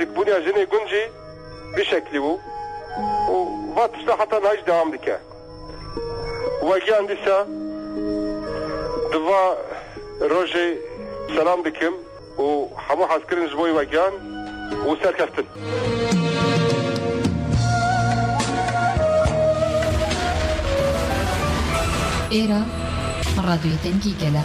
جک بونیا ژنێ گونجی بی شەکلی و و ڤا تشتا حەتا نایش دەوام دکە وە گیان دیسە دڤا رۆژێ سەلام دکم و حەموو حەز کرن ژ بۆی وە گیان و سەرکەفتن. ئێرە ڕادیۆی دەنگی گەلە.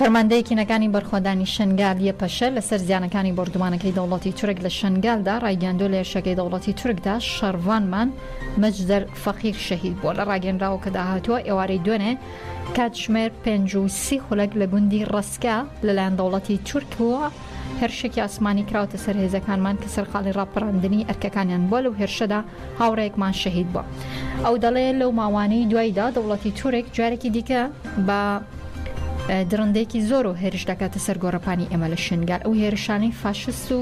فەرماندەیی کینەکانی بەرخۆدانی شەنگال یەپەشە لەسەر زیانەکانی بۆردومانەکەی دەوڵەتی تورک لە شەنگالدا ڕایگەیاندووە لە هێرشەکەی دەوڵەتی تورکدا شەڕڤانمان مەجدەر فەقیر شەهید بووە لە ڕاگەنراوەکەدا هاتووە ئێوارەی دوێنێ کاتژمێر پێنج و سی خولەک لە گوندی ڕەسکە لەلایەن دەوڵەتی تورکەوە هێرشێکی ئاسمانی کراوەتە سەر هێزەکانمان کە سەرقاڵی ڕاپەڕاندنی ئەرکەکانیان بووە لەو هێرشەدا هاوڕێکمان شەهید بووە ئەو دەڵێ لەو ماوانەی دوایدا دەوڵەتی تورک جارێکی دیکە بە درندێکی زۆر و هێرش دەکاتە سەر گۆڕەپانی ئێمە لە شنگال ئەو هێرشانەی فاشست و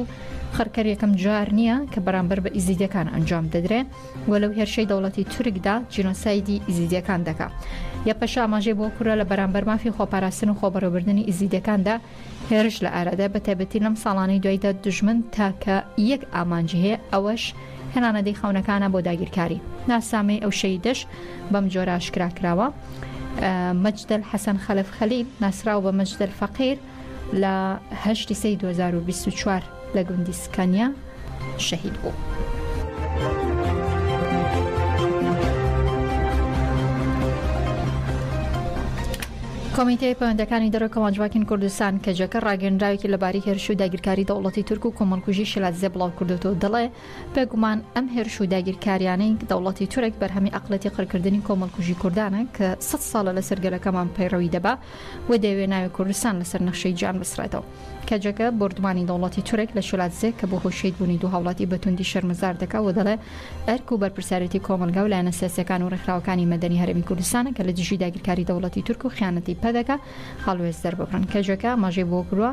خڕکەر یەکەم جار نییە کە بەرامبەر بە ئیزیدەکان ئەنجام دەدرێ و لەو هێرشەی دەوڵەتی تورکدا جینۆسایدی ئیزیدەکان دەکات یە پەشاماژەی بۆ کورە لە بەرامبەر مافی خۆپاراستن و خۆبەڕێبردننی ئیزیدەکاندا هێرش لە ئارادایە بە تایبەتی لەم ساڵانەی دوایدا دوژمن تاکە یەک ئامانجی هەیە ئەوەش هێنانەدی خەونەکانە بۆ داگیرکاری ناسنامەی ئەو شەیدەش بەم جۆرە ئاشکرا کراوە مەجدەل حەسەن خەلەف خەلیل ناسراو بە مەجدەل فەقیر لە هەشتی سەی 2024 لە گوندی سکانیا شەهید بوو. کۆمیتەی پەیوەندەکانی دەرەوە کەمانجواکین کوردستان کەجەکە ڕاگەنراوێکی لەباری هێرش و داگیرکاری دەوڵەتی تورک و کۆمەڵکوژی شلاتزێ بڵاو کردوەوە دەڵێ بێگومان ئەم هێرش و داگیرکاریانەی دەوڵەتی تورک بەرهەمی ئەقڵێتی قڕکردنی کۆمەڵکوژی کوردانە کە سەد ساڵە لەسەر گەلەکەمان پەیڕەوی دەبا و دەیەوێ ناوی کوردستان لەسەر نەخشەی جیان بسڕێتەوە. کەجەکە بۆردومانی دەوڵەتی تورک لە شلاتزێ کە بۆ هۆی شەید بوونی دوو هاوڵاتی بە توندی شەرمەزار دەکا و دەڵێ ئەرک و بەرپرسیارێتی کۆمەڵگا و لایەنە سیاسیەکان و ڕێکخراوەکانی مەدەنی هەرێمی کوردستانە کە لە دژی داگیرکاری دەوڵەتی تورک و خیانەتی پەدەکە هەڵوێست دەرببڕن کەجەکە ئاماژەی بەوە کردوە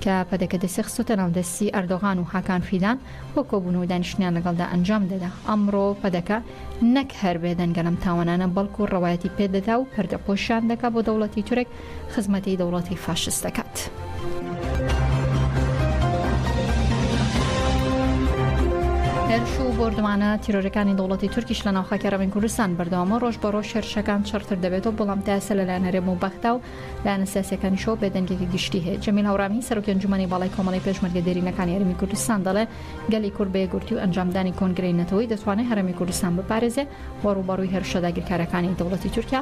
کە پەدەکە دەستی خستۆتە ناو دەستی ئەردۆغان و هاکان فیدان بۆ کۆبوون و دانیشتنیان لەگەڵدا ئەنجام دەدا ئەمڕۆ پەدەکە نەک هەر بێدەنگە لەم تاوانانە بەڵکو ڕەوایەتی پێدەدا و پەردەپۆشیان دەکا بۆ دەوڵەتی تورک خزمەتی دەوڵەتی فاشست دەکات. هێرش و بۆردومانە تیرۆرەکانی دەوڵەتی تورکیش لە ناوخاکی ڕەوین کوردستان بەردەوامە ڕۆژ بە ڕۆژ هێرشەکان چڕتر دەبێتەوە بەڵام تاسە لەلایەن هەرێم و بەغدا و لایەنە سیاسەکانیشەوە بێدەنگێکی گشتی هەیە جەمیل هەورامی سەرۆکی ئەنجومەنی باڵای کۆمەڵی پێشمەرگە دێرینەکانی هەرێمی کوردستان دەڵێ گەلی کورد بە یەکگورتی و ئەنجامدانی کۆنگرەی نەتەوەیی دەتوانێت هەرێمی کوردستان بپارێزێ و ڕووبەڕووی هێرشە داگیرکارەکانی دەوڵەتی تورکیا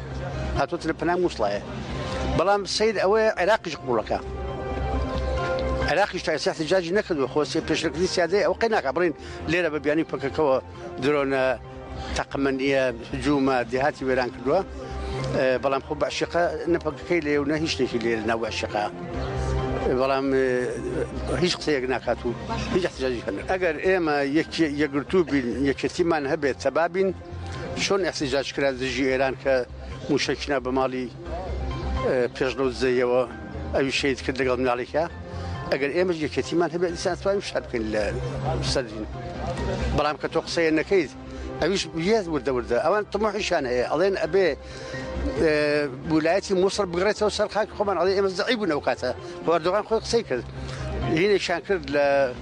هاتۆتە لە پەنای موسڵایە بەڵام سیر ئەوەیە عێراقیش قوڵەکە عێراقیش تاسیحی جاجی نەکردو خۆسی پێشکردی سیادەی ئەو قەی ناکە بڵین لێرە بە بیانی پکەکەەوە درۆنە تەقمەنیە جوومە دێهاتی وێران کردووە بەڵام خۆ بەشقە نەپەکەکەی لێ و نە هیچ شتێکی لێ ناو بەشقا. بەڵام هیچ قسەیەک ناکات و هیچ احتجاجی هەن ئەگەر ئێمە یەکگرتوو بین یەکێتیمان هەبێت تەبابین چۆن احتجاج کرا دژی ئێران کە موشەکی نا بە ماڵی پێش لەو دزەیەوە ئەوی شید کرد لەگەڵ مناڵێکە ئەگەر ئێمە یەکێتیمان هەبێت دیسانتوانین شار بکەین لە سەرین بەڵام کە تۆ قسەیە نەکەیت ئەویش یەت وردە وردە ئەوان تمەحیشان هەیە ئەڵێن ئەبێ وولایەتی مووسڵ بگڕێتەوە سەر خاک خۆمان ئەڵێ ئێمە زعی بوون ئەو کاتە بەردۆغان خۆی قسەی کرد هینێکشان کرد لە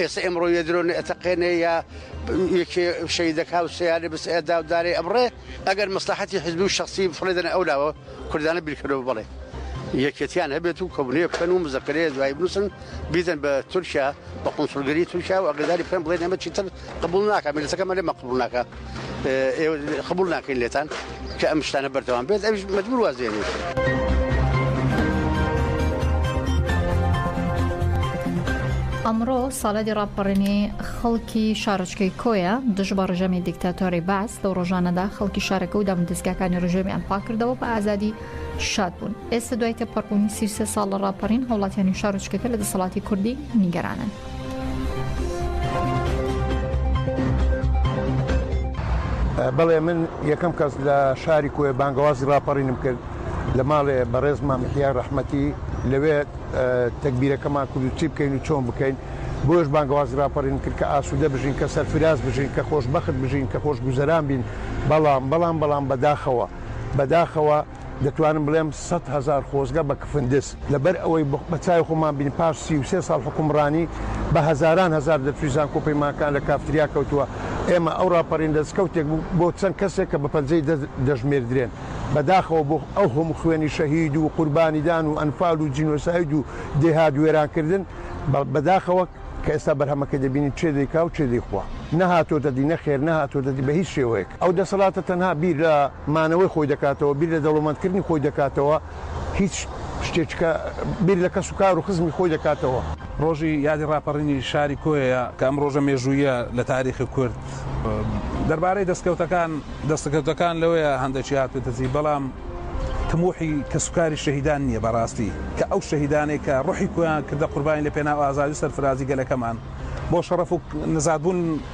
ئێسە ئێمڕۆ یە درۆنە ئەتەقێنێ یا یەکێ شەیدەکا و سیارێ بس ئەدا و دارێ ئەبڕێ ئەگەر مەسلحەتی حزبی و شخصی فڕێدەنە ئەو لاوە کوردانە بیرکەرەوە بڵێ یەکێتیان هەبێت و کۆبنێ بکەن و مزەکرێ دوای بنووسن بیدەن بە تورکیا بە قونسڵگەری تورکیا و ئەگەداری پێم بڵێن ئەمە چیتر قبول ناکە ملتەکەمە لێ مەقبول ناکە ئێوە قبول ناکەین لێتان کە ئەم شتانە بەردەوام بێت ئەوش مەجبور وازێنێت. ئەمڕۆ ساڵادی ڕاپەڕینی خەڵکی شارچکەی کۆیە دژ بە ڕژەمی دیکتاتۆری باس لەو ڕۆژانەدا خەڵکی شارەکە و دامودەستگاکانی ڕژێمیان پاکردەوە بە ئازادی شاد بوون ئێستا دوای تێپەڕبوونی سیرسێ ساڵ لە ڕاپەڕین هەوڵاتیانی شارچکەکە لە دەسەڵاتی کوردی نیگەرانن. بەڵێ من یەکەم کەس لە شاری کوێ بانگەوازی ڕاپەڕینم کرد لە ماڵێ بەڕێز مامحیا ڕەحمەتی لەوێ تەکبیرەکەمان کورد چی بکەین و چۆن بکەین بۆش بانگەوازی ڕاپەڕین کرد کە ئاسوودە بژین کە سەرفراز بژین کە خۆشببخت بژین کە خۆش گوزەران بین بەڵام بەڵام بەڵام بەداخەوە بەداخەوە دەتوانم بڵێم سەد هەزار خۆزگە بە کفندس لەبەر ئەوەی بە چاوی خۆمان بینی پاش سی و سێ ساڵ حوکمڕانی بە هەزاران هەزار دەرچووی زانکۆ و پەیمانکان لە کافتریا کەوتووە ئێمە ئەو ڕاپەڕین دەستکەوتێک بوو بۆ چەند کەسێک کە بە پەنجەی دەست دەژمێردرێن بەداخەوە بۆ ئەو هەموو خوێنی شەهید و قوربانیدان و ئەنفال و جینۆساید و دێهات وێرانکردن بەداخەوە کە ئێستا بەرهەمەکەی دەبینین چێ دەیکا و چێ دەیخوا نەهاتۆتە دی نەخێر نەهاتۆتە دی بە هیچ شێوەیەک ئەو دەسەڵاتە تەنها بیر لە مانەوەی خۆی دەکاتەوە، بیر لە دەوڵەمەندکردنی خۆی دەکاتەوە، هیچ شتێککە بیر لە کەس و کار و خزمی خۆی دەکاتەوە. ڕۆژی یادی ڕاپەڕینی شاری کۆیە کە ئەم ڕۆژە مێژووییە لە تاریخی کورد. دەربارەی دەستکەوتەکان، دەستەکەوتەکان لەوەیە هەندەکی هاتووەتە دی، بەڵام تموحی کەس و کاری شەهیدان نییە بەڕاستی، کە ئەو شەهیدانەی کە ڕۆحی کۆیان کردە قوربانی لە پێناو ئازادی و سەرفرازی گەلەکەمان، بۆ شەڕەف و نزادبوون،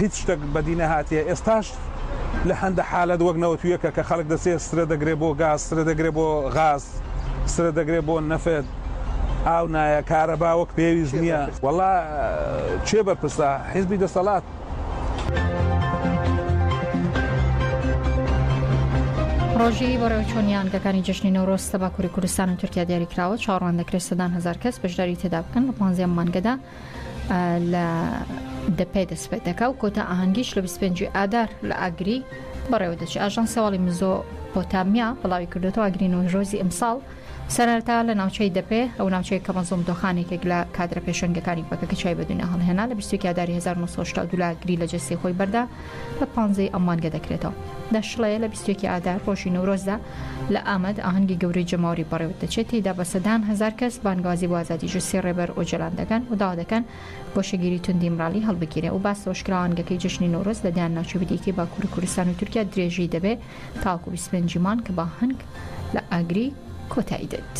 هیچ شتەک بەدی نەهاتیە ئێستاش لە هەندە حالەت وەک نەوەتویەکە کە خەلک دەچێ سرە دەگرێ بۆ گاز سرە دەگرێ بۆ غاز سرە دەگرێ بۆ نەفت ئاو نایە کارەبا وەک پێویست نییە وەڵا چێ بەرپرسە حیزبی دەسەڵات ڕۆژی بەڕێوچوونی یانگەکانی جشنی نەورۆز لە باکووری کوردستان و تورکیا دیاریکراوە چاڕوان دەکرێت سەدان هزار کەس بەشداری تێدا بکەن لە پانزیان مانگەدا لە دەپێ دەست پێ دەکا و کۆتا ئاهەنگیش لە 25 ئادار لە ئاگری بەڕێوە دەچێت ئاژانسی هەواڵی مزۆ پۆتامیا بڵاوی کردوێتەوە ئاگری نۆژۆزی ئەمساڵ سەرەتا لە ناوچەی دەپێ ئەو ناوچەیە کە مەزۆم دۆخانێکێک لە کادرە پێشەنگەکانی پەکە کە چای بە دنیا هەڵهێنا لە 20 ئاداری 1970 لا گری لە جەستی خۆی بەردا لە پانزەی ئەم مانگە دەکرێتەوە دەشڵەیە لە 20 ئادار ڕۆژی نەورۆزدا لە ئامەد ئاهەنگی گەورەی جەماوەری بەڕێوەدەچێت، تێیدا بە سەدان هەزار کەس بانگەوازی بۆ ئازادی جوسسی ڕێبەر ئۆجەلان دەکەن و داوا دەکەن گۆشەگیری توندی ئیمرالی هەڵبگیرێ و باس لەوەشکراوە ئاهەنگەکەی جەژنی نەورۆز لە دەیان ناوچەی دیکەی باکووری کوردستان و تورکیا درێژی دەبێت تاوەکو بیست و پێنج ی مانگ کە بە ئاهەنگ لە ئاگری کۆتایی دێت.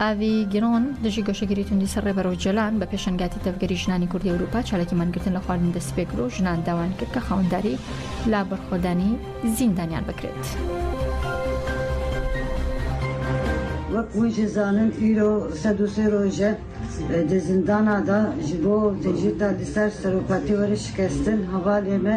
ئاڤی گرۆن، دژی گۆشەگیری توندی سەر ڕێبەر ئۆجەلان، بە پێشەنگایەتی تەڤگەری ژنانی کوردی ئەوروپا چالاکی مانگرتن لە خواردن دەستیپێکرد و ژنان داوایان کرد کە خاوەنداری لە بەرخۆدانی زیندانیان بکرێت. وەک هویش زانن ئیرۆ سەد و سێ رۆژە دە زندانا دا ژبۆ دژیردا لسەر سەرۆکاتی وەرش شکەستن هەڤالێمە،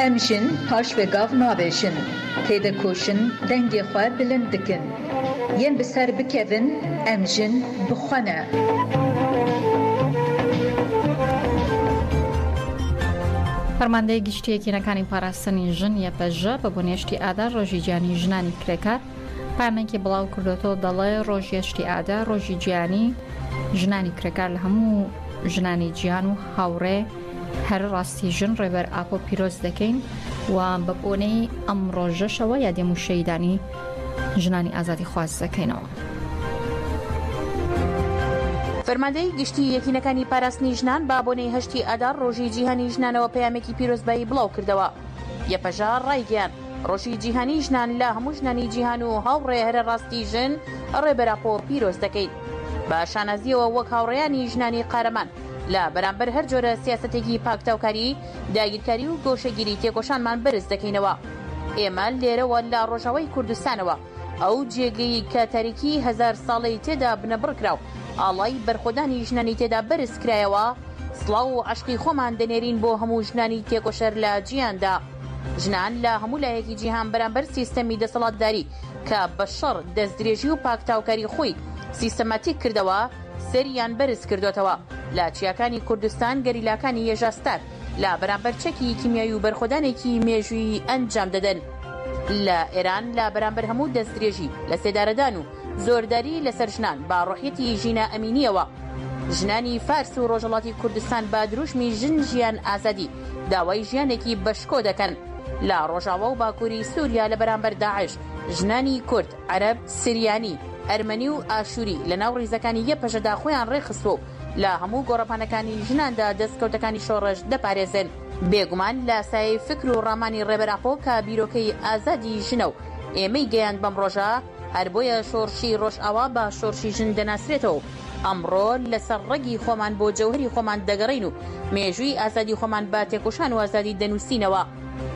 ئەم ژن پاش وێ گاڤ ناڤێژن، تێدەکۆشن دەنگێ خوە بلند بکن. یێن بە سەر بکەڤن ئەم ژن بخوەنە. فەرماندەی گشتی یەکینەکانی پاراستنی ژن، یەپەژە، بە بنێشتی ئادار ڕۆژی جیهانی ژنانی کرێکار، پەیامێکی بڵاوکردۆتەوە دەڵێ ڕۆژ یەشتی ئادا ڕۆژی جیانی ژنانی کرێکار لە هەموو ژنانی جیان و هاوڕێ هەر ڕاستی ژن ڕێبەر ئاپۆ پیرۆز دەکەین و بە بۆنەی ئەم ڕۆژەشەوە یادێ موشەیدانی ژنانی ئازادی خواز دەکەینەوە. فەرماندەی گشتی یەکینەکانی پاراستنی ژنان با بۆنەی هەشتی ئادار ڕۆژی جیهانی ژنانەوە پەیامێکی پیرۆزبایی بڵاو کردەوە یەپەژا ڕایگەیان ڕۆژی جیهانی ژنان لە هەموو ژنانی جیهان و هاوڕێ هەرە ڕاستی ژن ڕێبەر ئاپۆ پیرۆز دەکەین. بە شانازییەوە وەک هاوڕێیانی ژنانی قارەمان لە بەرامبەر هەر جۆرە سیاسەتێکی پاکتاوکاری، داگیرکاری و گۆشەگیری تێکۆشانمان بەرز دەکەینەوە. ئێمە لێرەوە لە ڕۆژاوای کوردستانەوە، ئەو جێگەی کە تاریکیی هەزار ساڵەی تێدا بنەبڕ کرا و ئاڵای بەرخۆدانی ژنانی تێدا بەرز کرایەوە، سڵاو و عەشقی خۆمان دەنێرین بۆ هەموو ژنانی تێکۆشەر لە جیهاندا. ژنان لە هەموو لایەکی جیهان بەرامبەر سیستەمی دەسەڵاتداری کە بە شەڕ، دەستدرێژی و پاکتاوکاری خۆی سیستەماتیک کردەوە، سەریان بەرز کردۆتەوە. لە چیاکانی کوردستان گەریلاکانی یەژا ستار لە بەرامبەر چەکی کیمیایی و بەرخۆدانێکی مێژوویی ئەنجام دەدەن. لە ئێران لە بەرامبەر هەموو دەستدرێژی، لەسێدارەدان و زۆرداری لەسەر ژنان بە ڕۆحیەتی ژینا ئەمینیەوە ژنانی فارس و ڕۆژهەڵاتی کوردستان بە دروشمی ژن ژیان ئازادی داوای ژیانێکی بە شکۆ دەکەن لە ڕۆژاوا و باکوری سوریا لە بەرامبەر داعش ژنانی کورد، عەرەب، سریانی، ئەرمەنی و ئاشوری لە ناو ڕیزەکانی یەپەژەدا خۆیان ڕێکخستووە و لە هەموو گۆڕەپانەکانی ژناندا دەستکەوتەکانی شۆڕش دەپارێزن. بێگومان لە سایەی فکر و ڕامانی ڕێبەر ئاپۆ کە بیرۆکەی ئازادی ژنە و ئێمەی گەیاند بەم ڕۆژە، هەر بۆیە شۆڕشی ڕۆژئاوا بە شۆڕشی ژن دەناسرێتەوە و ئەمڕۆ لەسەر ڕەگی خۆمان بۆ جەوهەری خۆمان دەگەڕێین و مێژووی ئازادی خۆمان بە تێکۆشان و ئازادی دەنووسینەوە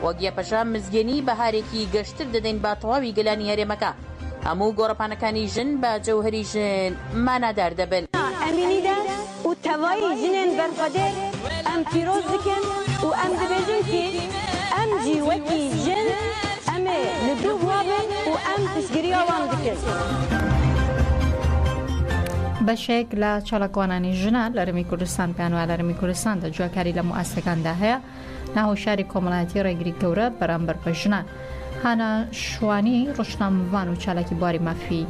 وەک یەپەژە مزگێنی بەهارێکی گەشتر دەدەین بە تەواوی گەلانی هەرێمەکە هەموو گۆڕەپانەکانی ژن بە جەوهەری ژن مانادار دەبن. ئەمینی داش، و تەڤای ژنێن بەرخوەدێر ئەم پیرۆز دکن و ئەم دبێژن ک ئەم جی وەکی ژن ئەمێ ل دوو بوابن و ئەم پشتگریا وان دکن. بەشێک لە چالاکوانانی ژنان لە هەرێمی کوردستان پێیان وایە لە هەرێمی کوردستاندا جیاکاری لە موئەسسەکاندا هەیە، ناهۆشیاری کۆمەڵایەتی ڕێگری گەورە بەرامبەر بە ژنان هانا شوانی ڕشنامەوان و چالاکی بواری مافی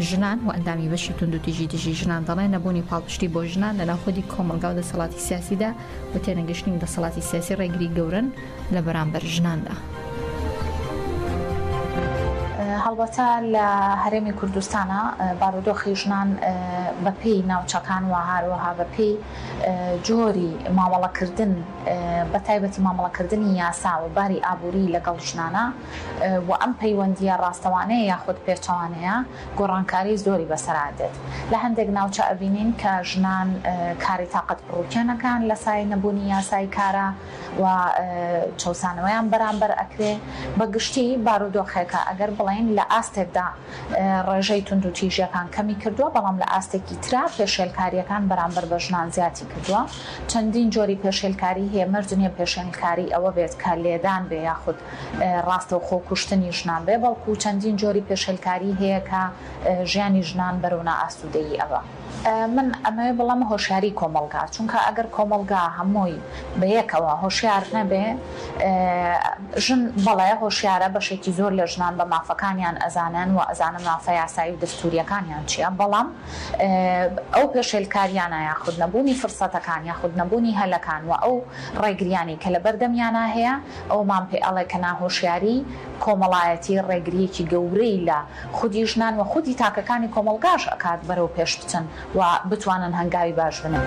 ژنان و ئەندامی بەشی توندوتیژی دژی ژنان دەڵێن نەبوونی پاڵپشتی بۆ ژنان لە ناخودی کۆمەلگا و دەسەڵاتی سیاسیدا و تێنەگەشتنی دەسەڵاتی سیاسی ڕێگری گەورن لە بەرامبەر ژناندا. هەڵبەتە لە هەرێمی کوردستانا بارودۆخی ژنان بەپێی ناوچەکان و هاروەها بەپێی جۆری مامەڵەکردن بە تایبەتی مامەڵەکردنی یاسا و باری ئابووری لەگەڵ ژنانە و ئەم پەیوەندییە ڕاستەوانەیە یاخود پێچەوانەیە گۆڕانکاری زۆری بەسەرا دێت لە هەندێک ناوچە ئەبینین کە ژنان کاری تاقەت پڕوکێنەکان لە سایەی نەبوونی یاسای کارا و چەوسانەوەیان بەرامبەر ئەکرێ بە گشتی بارودۆخێکە ئەگەر بڵێین لە ئاستێکدا ڕێژەی توندوتیژییەکان کەمی کردووە، بەڵام لە ئاستێکی ترا پێشێلکارییەکان بەرامبەر بە ژنان زیادی کردووە. چەندین جۆری پێشێلکاریی هەیە، مەرج نییە پێشێلکاریی ئەوە بێت کە لێدان بێ یاخود ڕاستەوخۆ کوشتنی ژنان بێ، بەڵکو چەندین جۆری پێشێلکاریی هەیە کە ژیانی ژنان بەرەو نائاسوودەیی ئەبا. من ئەمەوێ بڵێم هۆشیاری کۆمەڵگا چونکە ئەگەر کۆمەڵگا هەمووی بەیەکەوە هۆشیار نەبێ ژن بەڵێ هۆشیارە بەشێکی زۆر لە ژنان بە مافەکانیان ئەزانن و ئەزانن مافە یاسایی و دەستوریەکانیان چیە بەڵام ئەو پێشێلکاریانە یاخود نەبوونی فرسەتەکان یاخود نەبوونی هەلەکان و ئەو ڕێگریانەی کە لە بەردەمیانا هەیە ئەوەمان پێ ئەڵێ کە ناهۆشیاری کۆمەڵایەتی ڕێگریەکی گەورەی لە خودی ژنان و خودی تاکەکانی کۆمەڵگاش ئەکات بەرەو پێش بچن و بتوانن هەنگاوی باش بنێن.